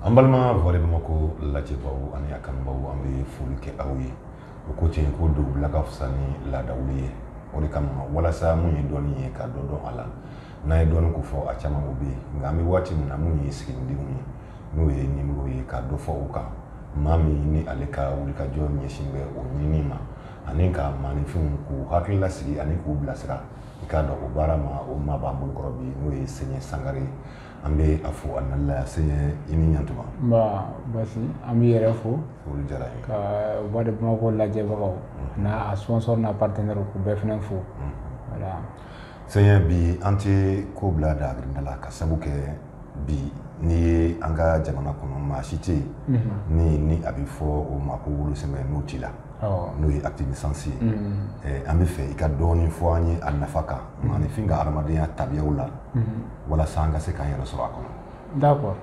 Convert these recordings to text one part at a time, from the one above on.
an balima voix de bamakɔ lajɛbaw ani a kanubaw an bɛ foli kɛ aw ye o ko ten ko dugubila ka fisa ni laadawuli ye o de kama walasa mun ye dɔnni ye ka dɔ dɔn a la n'an ye dɔnni ko fɔ a caman o bɛ yen nka an bɛ waati min na mun ye siginidenw ye n'o ye nimero ye ka dɔ fɔ o kan maa min ni ale ka wulikajɔ ɲɛsin bɛ o ɲini ma ani ka maaninfinw k'u hakili lasigi ani k'u bilasira i ka dɔn o baara ma o maa b'an bolokɔrɔ bi n'o ye sɛɲɛ sangare ye an bɛ a fo a nali la sɛɲɛ i ni ɲantuma basi an b'i yɛrɛ fo jara ka voix de bamakɔ lajɛbagaw n'a sponsor n'a partenaire k'u bɛɛ fana fo Sɛɲɛ bi an tɛ ko bila da grinda la ka sabu kɛ bi n'i ye an ka jamana kɔnɔ maa si tɛ yen ni ni a bɛ fɔ o ma ko wolosɛbɛn n'o t'i la n'o ye acte de naissance ye an bɛ fɛ i ka dɔɔnin fɔ an ye a nafa kan maaninfin ka adamadenya tabiyaw la walasa an ka se k'an yɛrɛ sɔrɔ a kɔnɔ d'accord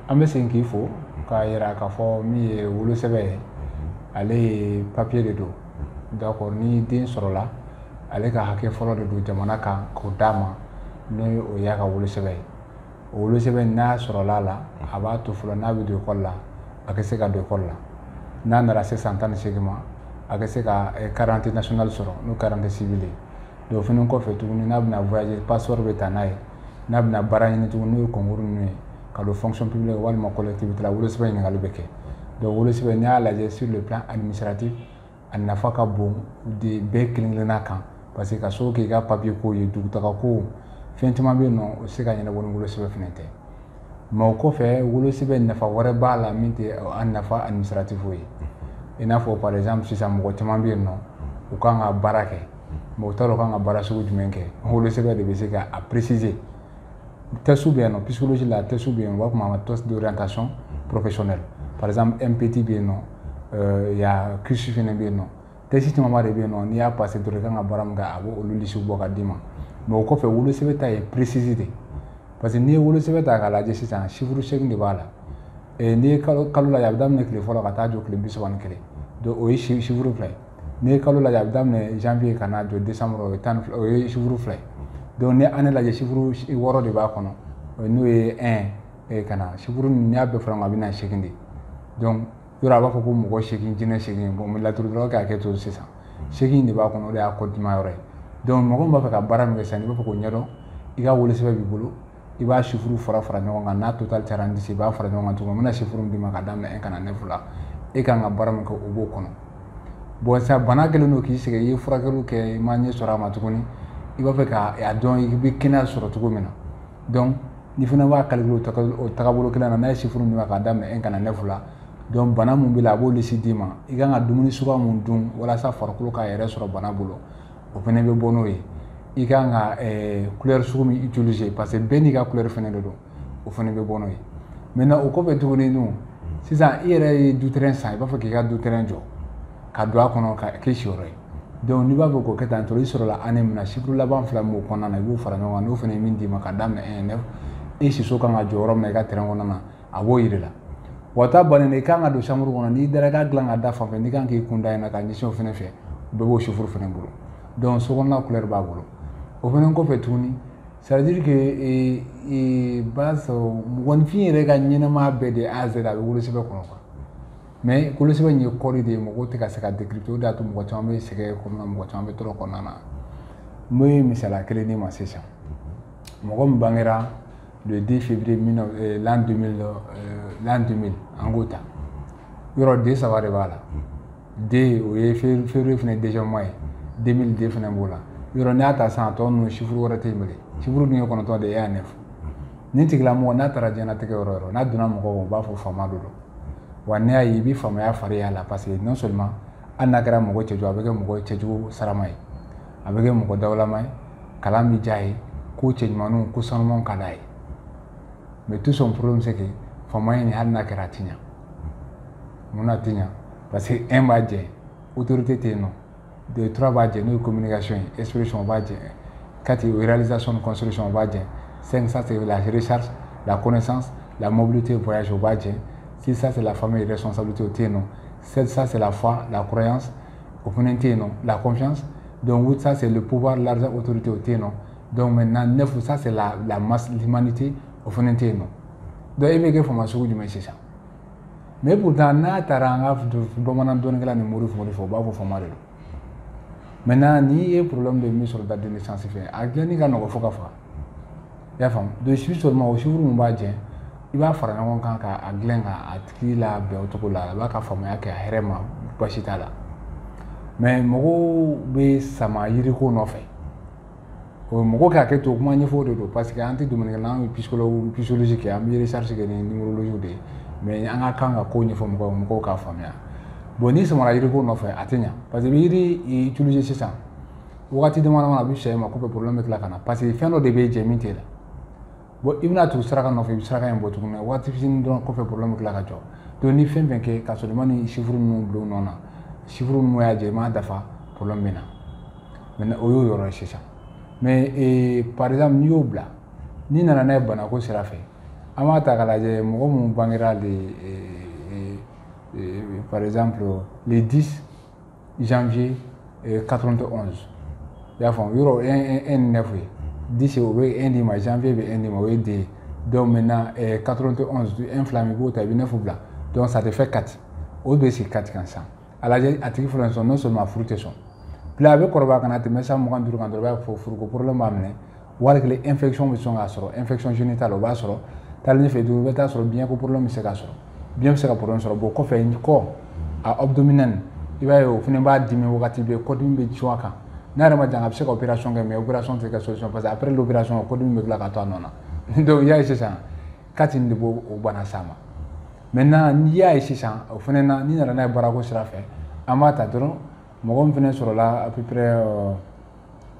an bɛ segin k'i fo k'a yira k'a fɔ min ye wolosɛbɛn ye ale ye papiye de don d'accord ni den sɔrɔla ale ka hakɛ fɔlɔ de don jamana kan k'o d'a ma n'o ye o y'a ka wolosɛbɛn ye o wolosɛbɛn n'a sɔrɔla a la a b'a to fɔlɔ n'a bɛ don ekɔli la a ka se ka don ekɔli la n'a nana se san tan ni seegin ma a ka se ka carte d'identité eh, nationale sɔrɔ n'o carte d'identité civile ye donc fana kɔfɛ tuguni n'a bɛna voyager passeport bɛ ta n'a ye n'a bɛna baara ɲini tuguni n'o ye concours ninnu ye ka don fonction publique la walima collectivité la wolosɛbɛn ɲininkali bɛ kɛ donc wolosɛbɛn n'i y'a lajɛ sur le plan administratif a nafa ka bon de bɛɛ kelen kelenna kan parce que ka sababu kɛ i ka papier ko ye dugutaga ko fɛn caman bɛ yen nɔ o se ka ɲɛnabɔ ni wolosɛbɛn fana tɛ mais o kɔfɛ wolosɛbɛn nafa wɛrɛ b'a la min tɛ an nafa administratif ye i n'a fɔ par exemple sisan mɔgɔ caman bɛ yen nɔ u kan ka baara kɛ mais u t'a dɔn u kan ka baara sugu jumɛn kɛ wolosɛbɛn de bɛ se ka a préciser test bɛ yen nɔ psychologie la test bɛ yen u b'a fɔ ma test d'orientation professionnelle par exemple mbti bɛ yen nɔ y a keirsey fana bɛ yen nɔ test caman de bɛ yen nɔ n'i y'a passé dɔrɔn i kan ka baara min kɛ a bɛ olu lisiw bɔ ka d'i ma mais o kɔfɛ wolosɛbɛn ta ye précis de parce que n'i ye wolosɛbɛn ta k'a lajɛ sisan chiffre seegin de b'a la n'i ye kalo lajɛ a bɛ daminɛ tile fɔlɔ ka taa jɔ tile bisaba ni kelen o ye chiffre fila ye n'i ye kalo lajɛ a bɛ daminɛ janvier ka na jɔ décembre o ye tan o ye chiffre fila ye donc n'i année lajɛ chiffre wɔɔrɔ de b'a kɔnɔ n'o ye un ka na chiffre n'i y'a bɛɛ fara ɲɔgɔn kan a bɛ na seegin de donc yɔrɔ a b'a fɔ ko mɔgɔ seegin jinɛ seegin bon n bɛ laturu dɔrɔn k'a kɛ to sisan seegin de b'a kɔnɔ o de y'a ko diman yɔrɔ ye donc mɔgɔ min b'a fɛ ka baara min kɛ sisan n'i b'a fɛ k'o ɲɛdɔn i ka wolosɛbɛn b'i bolo i b'a chiffre fara fara ɲɔgɔn kan n'a total cayara ni dix i b'a fara ɲɔgɔn kan tuguni n bɛna chiffre min d'i ma ka daminɛ un ka na neuf la e kan ka baara min kɛ o b'o kɔnɔ bon sisan bana kɛlen don k'i sɛgɛn i ye furakɛliw kɛ i ma ɲɛ sɔrɔ a ma tuguni i b'a fɛ k'a dɔn i bɛ kɛnɛya sɔrɔ cogo min na donc ni fana b'a calculer o tagabolo kelen na n'a ye chiffre min d'i ma ka daminɛ un ka na neuf la donc bana min b'i la a b'o liste d'i ma i kan ka dumuni suguya min dun walasa farikolo k'a yɛrɛ sɔrɔ bana bolo o fana bɛ bɔ n'o ye i ka kan ka kulɛri sugu min utiliser parce que bɛɛ n'i ka kulɛri fana de don o fana bɛ bɔ n'o ye maintenant o kɔfɛ tuguni dun sisan i yɛrɛ ye du terrain san i b'a fɛ k'i ka du terrain jɔ ka don a kɔnɔ ka k'i siyɔrɔ ye donc n'i b'a fɛ k'o kɛ tan tɔ i sɔrɔla année min na chiffre laban fila min b'o kɔnɔna na i b'o fara ɲɔgɔn kan n'o fana ye min d'i ma ka daminɛ 1 9 i siso kan ka jɔ yɔrɔ min na i ka terrain kɔnɔna na a b'o yir'i la wa ta bannen de i kan ka don chambre kɔnɔ n'i dara i ka dilan ka da fan fɛ n'i kan k'i kun da in na ka ɲɛsin o fana fɛ bɛɛ b'o chiffre fana bolo donc sokɔnɔna kulɛri b'a bolo o fana kɔfɛ tuguni c'est à dire que e, e, b'a sɔrɔ mɔgɔninfin yɛrɛ ka ɲɛnɛmaya bɛɛ de A à Z a bɛ wolosɛbɛn kɔnɔ quoi mais wolosɛbɛn in ye code de ye mɔgɔw tɛ ka se k'a décrypter o de y'a to mɔgɔ caman bɛ sɛgɛn kɔnɔna mɔgɔ caman bɛ tɔɔrɔ kɔnɔna na n bɛ misaliya kelen d'i ma sisan mɔgɔ min bangera le 2 février euh, l'an 2000 euh, l'an 2000 an k'o ta yɔrɔ 2 saba de b'a la 2 o ye février fana deuxième mois ye 2000 2 fana b'o la yɔrɔ n'i y'a ta sisan a tɔ ninnu chiffre wɛrɛ tɛ yen bilen chiffre dun ye kɔnɔntɔn de ye 1 à 9 nin tigilamɔgɔ n'a taara diɲɛnatigɛ yɔrɔ o yɔrɔ n'a donna mɔgɔw u b'a fɔ faama de don wa n'i y'a ye i bɛ faamaya fari y'a la parce que non seulement hali n'a kɛra mɔgɔ cɛjugu a bɛ kɛ mɔgɔ cɛjugu sarama ye a bɛ kɛ mɔgɔ dawulama ye kalan bɛ diya ye ko cɛ ɲumanw ko sanu ka da ye mɛ tu sɔn furu bɛ se kɛ fa in nin hali n'a kɛra ti ɲɛ mun na ti ɲɛ parce que e b'a jɛ o tɛ tɛ yen nɔ de tura b'a jɛ n'o ye ko minikasi ye e sɔn b'a jɛ ka u yɛrɛzc sɔn b'a jɛ sen sa se la hsari la ko san la mobili tɛ bɔyasi o b'a jɛ sisan sela fa yɛrɛ sɔn sa tɛ yen nɔ sɛsa sela fa la kura yan o fana tɛ yen nɔ la kɔnfi dɔnkusa seli pubaa la otote o tɛ yen nɔ dɔnku mɛ na nefasa lamasmani tɛ o fana tɛ yen nɔ dɔn e bɛ kɛ faama sugu jumɛn sisan mɛ tun taa n'a taara an ka bamanan dɔnkɛla ni muru f de fɔ u b'a fɔ faama de don mɛ n' ye purlɔ min bɛ min sɔrɔ da deli sanfɛ a diɲɛ ka nɔgɔɔgɔ fo ka faga i y'a faamu donc c'est seulement o chiffre min b'a jɛ i b'a fara ɲɔgɔn kan k'a dilan k'a tigi labɛn o cogo la a b'a ka faamaya kɛ a hɛrɛ ma basi t'a la mais mɔgɔw bɛ sama yiriko nɔfɛ o mɔgɔ k'a kɛ to kuma ɲɛfɔ de don parce que an tɛ dumuni na an bɛ psychologue psychologie kɛ an bɛ recherche kɛ ni numérologie de ye mais an ka kan ka ko ɲɛfɔ mɔgɔw mɔgɔw k'a faamuya bon n'i samara yiriko nɔfɛ a tɛ ɲa parce que i bɛ yiri utiliser sisan wagati dama dama a bɛ suma kɔfɛ problème bɛ tila ka na parce que fɛn dɔ de bɛ jɛ min t'i la bon i bɛna tugu saraka nɔfɛ i bɛ saraka in bɔ tuguni waati fitinin dɔrɔn kɔfɛ problème bɛ tila ka jɔ donc ni fɛn fɛn kɛ ka sɔrɔ i ma nin chiffre ninnu bila u nɔ na chiffre ninnu y'a jɛ i m'a dafa problème bɛ na maintenant o y'o yɔrɔ ye sisan mais eh, par exemple n'i y'o bila n'i nana n'a ye banako sira fɛ an b'a ta k'a lajɛ mɔgɔ minnu bangera le eh, eh, eh, par exemple le 10 janvier 91 euh, i y'a faamu yɔrɔ un ni neuf ye dix o bɛ un d'i ma janvier bɛ un d'i ma o ye deux ye donc maintenant euh, 91 un fila min i b'o ta i bɛ neuf bila donc ça te fait quatre o bɛ sigi quatre kan sisan a lajɛ a tigi fɔlɔ sɔn non seulement furu tɛ sɔn bila a bɛ kɔrɔbaya ka na tɛmɛ san mugan duuru kan dɔrɔn i b'a ye fo furuko problème b'a minɛ wali kelen infection bɛ sɔn k'a sɔrɔ infection génitale o b'a sɔrɔ taalen ɲɛfɛ i bɛ taa sɔrɔ biɲɛko problème bɛ se k'a sɔrɔ biɲɛ bɛ se ka problème sɔrɔ bon kɔfɛ kɔ a abdominal i b'a ye o fana b'a dimi wagati bɛɛ kɔdimi bɛ cun a kan n'a yɛrɛ ma jan a bɛ se ka opération kɛ mais opération tɛ kɛ solution parce que après l'opération kɔdimi bɛ tila ka to a nɔ na donc i y'a ye sisan quatre nin de b'o bana s'a ma maintenant n'i y'a ye sisan o fana na n'i nana n'a ye baarako sira fɛ an b'a ta dɔrɔn mɔgɔ min fana sɔrɔla à peu près euh,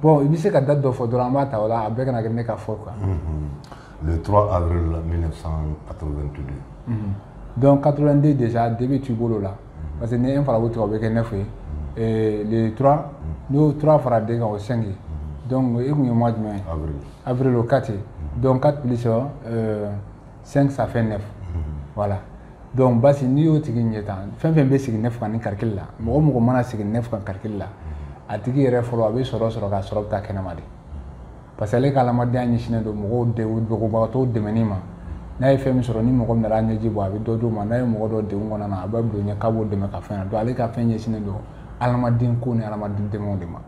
Bon i bɛ se ka date dɔ fɔ dɔrɔn an b'a ta o la a bɛɛ kana kɛ ne ka fɔ quoi unhun, le 3 avril 1982 unhun, donc 82 déjà 2 bɛ t'i bolo o la parce que ni 1 farala 8 kan o bɛ kɛ 9 ye et le 3 n'i y'o 3 fara 2 kan o ye 5 ye donc e tun ye mois jumɛn ye? avril, avril o ye 4 ye donc 4 plus ɛɛ 5 ça fait 9 voilà donc basi n'i y'o tigi ɲɛ tan fɛn fɛn bɛ sigi 9 kan ni calcul la mɔgɔ mɔgɔ mana sigi 9 kan calcul la a tigi yɛrɛ fɔlɔ a bɛ sɔrɔ sɔrɔ nka sɔrɔ bɛ taa kɛnɛma de parce que ale ka adamadenya ɲɛsinnen don mɔgɔw degunbagatɔw dɛmɛni ma n'a ye fɛn min sɔrɔ ni mɔgɔ min nana ɲɛji bɔ a bɛ dɔ d'o ma n'a ye mɔgɔ dɔ degun kɔnɔna na a bɛ don ɲɛ k'a b'o dɛmɛ ka fɛn na donc ale ka fɛn ɲɛsinnen don adamaden ko ni adamaden dɛmɛw de ma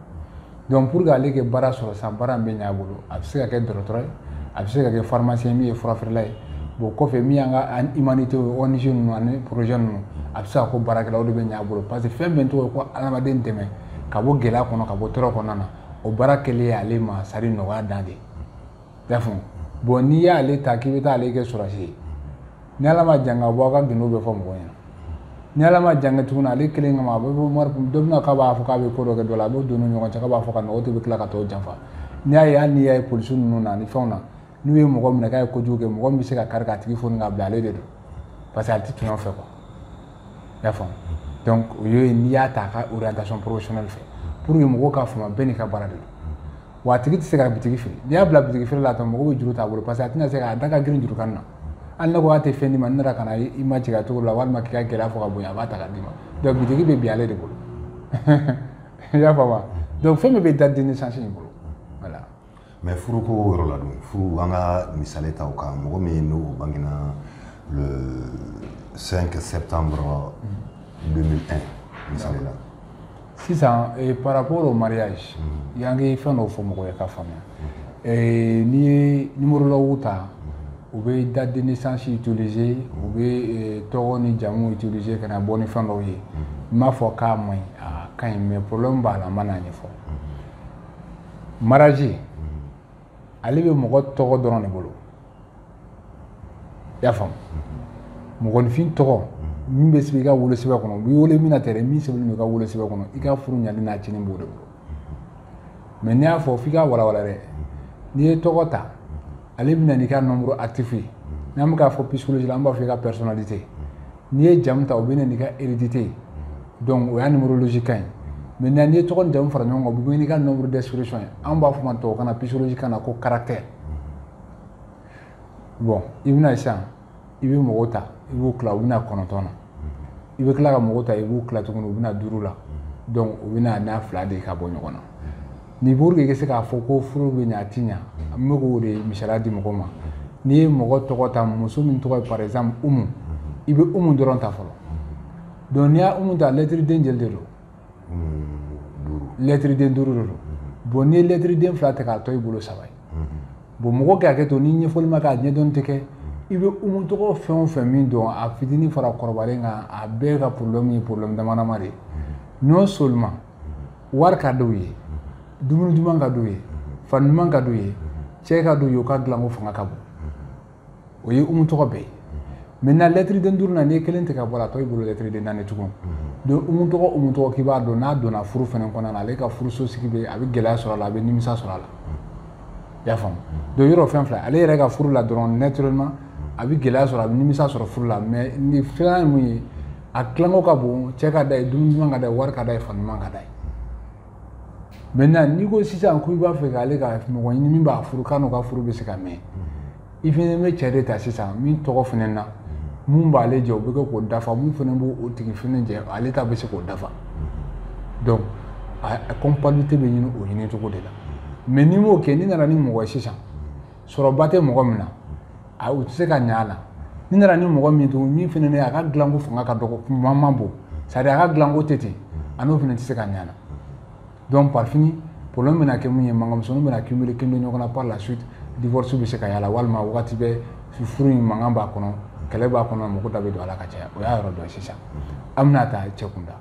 donc pour que ale kɛ baara sɔrɔ sisan baara min bɛ ɲɛ a bolo a bɛ se ka kɛ dɔgɔtɔrɔ ye a bɛ se ka kɛ pharmacien min ye furafeerela ye bon kɔfɛ min y'an ka humanité ye ONG ninnu ani projet ninnu a bɛ se ka k'o baarakɛla o de bɛ ɲɛ a bolo parce que fɛn bɛɛ tɔgɔ ye ko adamaden dɛmɛ ka bɔ gɛlɛya kɔnɔ ka bɔ tɔɔrɔ kɔnɔna na o baara kɛlen ye ale ma c'est-à-dire nɔgɔya dan de ye i y'a faamu bon n'i y'ale ta k'i bɛ taa ale kɛ sɔrɔdasi ye ni ala ma jan ka bɔ a ka gundo bɛ fɔ mɔgɔ ɲɛna ni ala ma jan kɛ tuguni ale kelen kama a bɛ bɔ mari dɔ bɛna k'a b'a fɔ k'a bɛ ko dɔ kɛ dɔ la a b'o don ni ɲɔgɔn cɛ k'a b'a fɔ ka nɔgɔ tɛ bɛ tila ka tɔw janfa n'i y'a ye hali n'i y'a ye polisi ninnu na ni fɛnw na n'u ye mɔgɔ minɛ k'a ye kojugu kɛ mɔgɔ min bɛ se ka kari k'a tigi foni k'a bila ale de don parce que ale tɛ tɔɲɔ fɛ quoi i y'a faamu donc o ye n'i y'a ta a ka orientation professionnelle fɛ pour que mɔgɔw k'a faamu bɛɛ n'i ka baara de don wa a tigi tɛ se ka bitigi feere n'i y'a bila bitigi feere la tan mɔgɔw bɛ juru t'a bolo parce que a tɛna se ka a da ka girin juru kan na hali ne ko a tɛ fɛn d'i ma ne nana ka na i ma jigin a cogo la walima k'i ka gɛlɛya fɔ ka bonya a b'a ta ka d'i ma donc bitigi bɛ bin ale de bolo i y'a faamu donc fɛn bɛɛ bɛ date de naissance in bolo voilà. mais furuko yɔrɔ la dun furu an ka misali ta o kan mɔgɔ min n'o bangena le 5 septembre 2001 mm. misali la. sisan eh, par rapport au mariage mm. y'an kɛ fɛn dɔw fɔ mɔgɔ ye k'a faamuya mm-hmm. eh, n'i ye numérologue ta mm-hmm. u bɛ date de naissance utiliser mm-hmm. u bɛ eh, tɔgɔ ni jamu utiliser ka na bɔ ni fɛn dɔw ye n m'a fɔ k'a man ɲi a ka ɲi mais problème b'a la n ma n'a ɲɛfɔ mariage ale bɛ mɔgɔ tɔgɔ dɔrɔn de bolo i y'a faamu mɔgɔninfin tɔgɔ min bɛ sɛbɛn i ka wolosɛbɛn kɔnɔ u b'i wele min na tɛ dɛ min sɛbɛnnen don i ka wolosɛbɛn kɔnɔ i ka furu ɲali n'a cɛnni b'o de bolo mais n'i y'a fɔ f'i ka walawala dɛ n'i ye tɔgɔ ta ale bɛ na n'i ka nombre actif ye n'an bɛ k'a fɔ psychologie la an b'a fɔ i ka personnalité n'i ye jamu ta o bɛ na n'i ka hérédité ye donc o y'a numérologie kan ye maintenant n'i ye tɔgɔ ni jamu fara ɲɔgɔn kan o bɛ n'i ka nombre d'expression ye anw b'a fɔ ma tubabukan na psychologie kan na ko caractère bon i bɛ na sisan i bɛ mɔgɔw ta i b'u tila u bɛ na kɔnɔntɔn na i bɛ tila ka mɔgɔw ta i b'u tila tuguni u bɛ na duuru la donc u bɛ na n'a fila de ka bɔ ɲɔgɔn na ni pour que i ka se k'a fɔ ko furu bɛ ɲɛ a ti ɲɛ n bɛ k'o de misaliya di mɔgɔ ma n'i ye mɔgɔ tɔgɔ ta muso min tɔgɔ ye par exemple umu i bɛ umu dɔrɔn ta fɔlɔ donc n'i y'a umu ta lɛtiriden joli de don lɛtiriden duuru de don bon n'i ye lɛtiriden fila ta k'a tɔ i bolo saba ye bon mɔgɔ ka hakɛ to ni ɲɛfɔli ma kɛ a ɲɛdɔn tɛ kɛ i bɛ umu tɔgɔ fɛn o fɛn min dɔn a fitinin fara kɔrɔbalen kan a bɛɛ ka problème ye problème damadama de ye non seulement wari ka d'u ye dumuni duman ka d'u ye fani duman ka d'u ye cɛ ka d'u ye u ka dilanko fanga ka bon o ye umu tɔgɔ bɛɛ ye maintenant lɛtiri den duuru na n'i ye kelen tigɛ ka bɔ a la a tɔ y'i bolo lɛtiri den naani tugun donc umu tɔgɔ umu tɔgɔ k'i b'a dɔn n'a donna furu fɛnɛ kɔnɔna na ale ka furuso sigi bɛ a bɛ gɛlɛya sɔrɔ a la a bɛ nimisa sɔrɔ a la i y'a faamu donc yɔrɔ fɛn fila ale yɛrɛ ka furu la dɔrɔn naturellement a bɛ gɛlɛya sɔrɔ a bɛ nimisa sɔrɔ furu la mais ni filanan ye mun ye a dilanko ka bon cɛ ka d'a ye dumuni duman ka d'a ye wari ka d'a ye fani duman ka d'a ye maintenant n'i ko sisan ko i b'a fɛ k'ale ka mɔgɔ ɲini min b'a furu k'a n'o ka furu bɛ se ka mɛn i fɛnɛ bɛ cɛ de ta sisan min tɔgɔ fɛnɛ na mun b'ale jɛ o bɛ kɛ k'o dafa mun fɛnɛ b'o tigi fɛnɛ jɛ ale ta bɛ se k'o dafa donc a compatibilité bɛ ɲini o ɲini cogo de la mais n'i m'o kɛ n'i nana ni mɔgɔ ye sisan sɔrɔba tɛ mɔgɔ min na a u tɛ se ka ɲɛ a la n'i nana ni mɔgɔ min tugun min fana a ka dilanko fanga ka dɔgɔ kuma man bon c'est à dire a ka dilanko tɛ ten a n'o fana tɛ se ka ɲɛ a la donc par fini problème bɛna kɛ mun ye mankanmisɛnninw bɛna cumuler cumuler ɲɔgɔn na par la suite divorce bɛ se ka y'a la walima wagati bɛɛ furu in mankan b'a kɔnɔ kɛlɛ b'a kɔnɔ mɔgɔ da bɛ don a la ka caya o y'a yɔrɔ dɔ ye sisan an bɛna ta cɛ kunda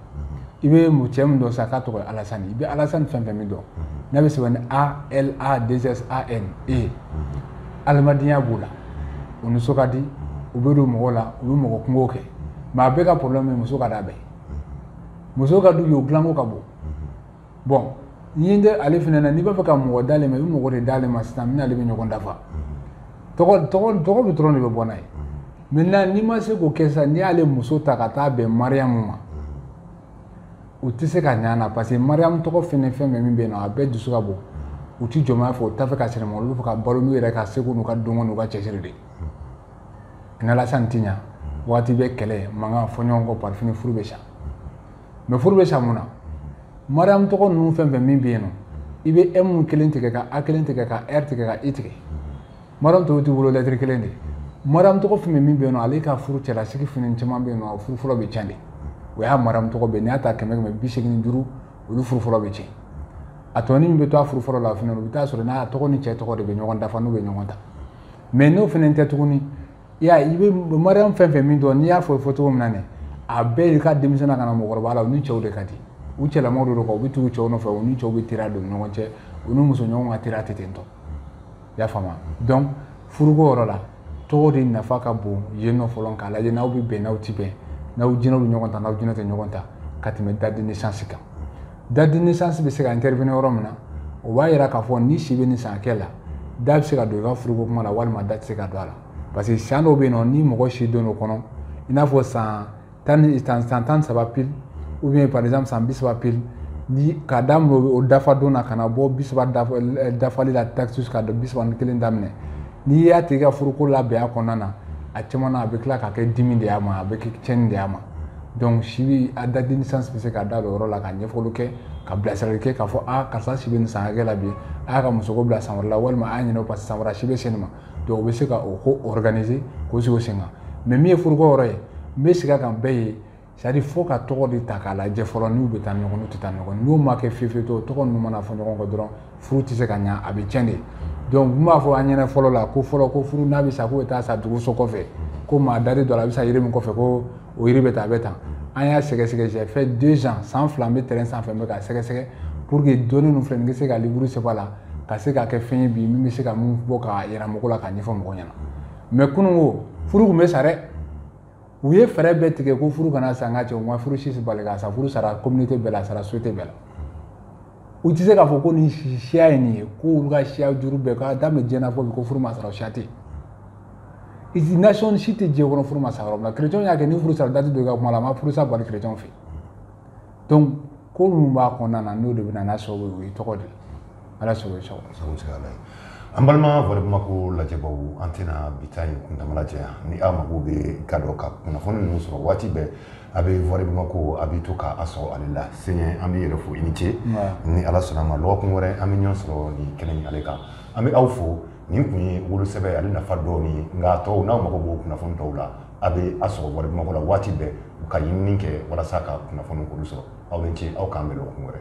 i bɛ cɛ min dɔn sa k'a tɔgɔ alasan i bɛ alasan fɛn fɛn min dɔn n'a bɛ sɛbɛn ni a l a deux s a n e adamadenya b'o la o nisɔn ka di u bɛ don mɔgɔw la u bɛ mɔgɔ kunko kɛ mais a bɛɛ ka problème muso ka d'a bɛɛ muso ka d'u ye o dilanko ka bon bon ni tɛ ale fana na n'i b'a fɛ ka mɔgɔ d'ale ma i bɛ mɔgɔ de d'ale ma sisan min n'ale bɛ ɲɔgɔn dafa tɔgɔ bɛ dɔrɔn de bɛ bɔ n'a ye maintenant n'i ma se k'o kɛ sisan n'i y'ale muso ta ka taa bɛn mariyamu ma u tɛ se ka ɲa a la parce que mariyamu tɔgɔ fɛn fɛn min bɛ yen nɔ a bɛɛ dusu ka bon u tɛ jɔnmaya fɛ u t'a fɛ ka sɛnɛma olu b'a fɛ ka balo n'u yɛrɛ ka seko n'u ka dɔnko n'u ka cɛsiri de n'alasan tɛ ɲa waati bɛɛ kɛlɛ mankan fɔɲɔgɔnkɔ par fini furu bɛ sa mais furu bɛ sa mun na mariam tɔgɔ ninnu fɛn fɛn min bɛ yen nɔ i bɛ m kelen tigɛ ka a kelen tigɛ ka r tigɛ ka i tigɛ mariam tɔw t'i bolo lettre kelen de mariam tɔgɔ fɛn min bɛ yen nɔ ale ka furu cɛlasigi fana caman bɛ yen nɔ furu fɔlɔ bɛ tiɲɛ de o y'a mariam tɔgɔ bɛɛ n'i y'a ta kɛmɛ kɛmɛ bi seegin duuru olu furu fɔlɔ bɛ tiɲɛ a tɔni min bɛ to a furu fɔlɔ la fana o bɛ t'a sɔrɔ n'a tɔgɔ ni cɛ tɔgɔ de bɛ ɲɔgɔn dafa n'u bɛ ɲɔgɔn ta mais n'o fana tɛ tuguni i y'a ye i bɛ mariyamu fɛn fɛn min dɔn n'i y'a fɔ fɔ cogo min na nin a bɛɛ y'i ka denmisɛnnin ka na mɔgɔkɔrɔba la u ni cɛw de ka di u cɛlamaw de don u bɛ tugu cɛw nɔfɛ u ni cɛw bɛ teriya don ɲɔgɔn cɛ u ni muso ɲɔgɔn ka teriya tɛ ten tɔ i y'a faamu donc furuko yɔrɔ la tɔgɔ de nafa ka bon yen nɔ fɔlɔ k'a lajɛ n'aw bɛ bɛn n'aw tɛ bɛn n'aw jinɛw bɛ ɲɔgɔn ta n'aw jinɛ tɛ ɲɔgɔn ta ka tɛmɛ date de naissance kan date de naissance bɛ se ka intervenir yɔrɔ min na o b'a yira k'a fɔ ni si bɛ nin san hakɛ la da bɛ se ka don i ka furuko kuma la walima da tɛ se ka don a la parce que san dɔw bɛ yen nɔ ni mɔgɔ si don o kɔnɔ i n'a fɔ san tan ni san san tan ni saba pile ou bien par exemple san bi saba pile ni k'a daminɛ o dafa don na ka na bɔ bi saba dafali la taxus ka don bi saba ni kelen daminɛ n'i y'a tigi ka furuko labɛn a kɔnɔna na a caman na a bɛ tila ka kɛ dimi de y'a ma a bɛ kɛ tiɲɛni de y'a ma donc si bɛ a date de naissance bɛ se ka da o yɔrɔ la ka ɲɛfɔli kɛ ka bilasirali kɛ k'a fɔ a karisa si bɛ nin san hakɛ la bi a y'a ka musoko bila san wɛrɛ la walima a y'a ɲinɛ o parce que san wɛrɛ si bɛ se nin ma donc o bɛ se ka o ko organiser k'o sigi o sen kan mais min ye furuko yɔrɔ ye n bɛ segin a kan bɛɛ ye c'est à dire fo ka tɔgɔ de ta k'a lajɛ fɔlɔ n'u bɛ taa ɲɔgɔn n'u tɛ taa ɲɔgɔn n'o ma kɛ fiyewu fiyewu tɔgɔ ninnu mana fɔ ɲɔgɔn kɔ dɔrɔn furu tɛ se ka ɲa a bɛ tiɲɛ de donc n b'a fɔ an ɲɛna fɔlɔ la ko fɔlɔ ko furu n'a bɛ sa k'o bɛ taa sa dugu so kɔfɛ ko maa dalen don a la a bɛ sa yiri min kɔfɛ ko o yiri bɛ taa a bɛ tan an y'a sɛgɛsɛgɛ j'ai fait deux ans san fila n bɛ terrain sanfɛ n bɛ k'a sɛgɛsɛgɛ pour que dɔnni ninnu filɛ nin bɛ se ka livre sɛbɛn a la ka se k'a kɛ fɛn ye bi min bɛ se ka min bɔ k'a yira mɔgɔ la k'a ɲɛfɔ mɔgɔ ɲɛna mais kununko furu tun bɛ sa dɛ u ye fɛɛrɛ bɛɛ tigɛ ko furu kana sa nka cɛ u ma furu si bali ka sa furu sara communauté bɛɛ la a sara société bɛɛ la u tɛ se k'a fɔ ko nin siya ye nin ye ko olu ka siya juru bɛɛ k'a daminɛ diɲɛ na fo bi ko furu ma sara o siya tɛ yen nation si tɛ diɲɛ kɔnɔ furu ma sa yɔrɔ min na chrétien y'a kɛ ni furu sara dati don i ka kuma la a ma furu sa bali chrétien fɛ donc ko minnu b'a kɔnɔna na n'o de bɛ na n'a sababu ye o ye tɔgɔ de ye ala sago i sago An balima Wari Bamakɔ lajɛbaw an tɛna bi ta in kuntaala janya ni aw mago bɛ a la ka kunnafoni ninnu sɔrɔ waati bɛɛ a bɛ Wari Bamakɔ a bɛ to k'a sɔrɔ ale la s an bɛ yɛrɛ fo i ni ce ni ala sɔnna a ma dɔgɔkun wɛrɛ an bɛ ɲɔgɔn sɔrɔ nin kɛnɛ in kan an bɛ aw fo nin tun ye wolosɛbɛn ale nafa dɔw ye nka tɔw n'aw mago b'o kunnafoni tɔw la a bɛ a sɔrɔ Wari Bamakɔ la waati bɛɛ u ka ɲinini kɛ walasa ka kunnafoni sɔrɔ aw ni ce aw k'an bɛn dɔgɔkun wɛrɛ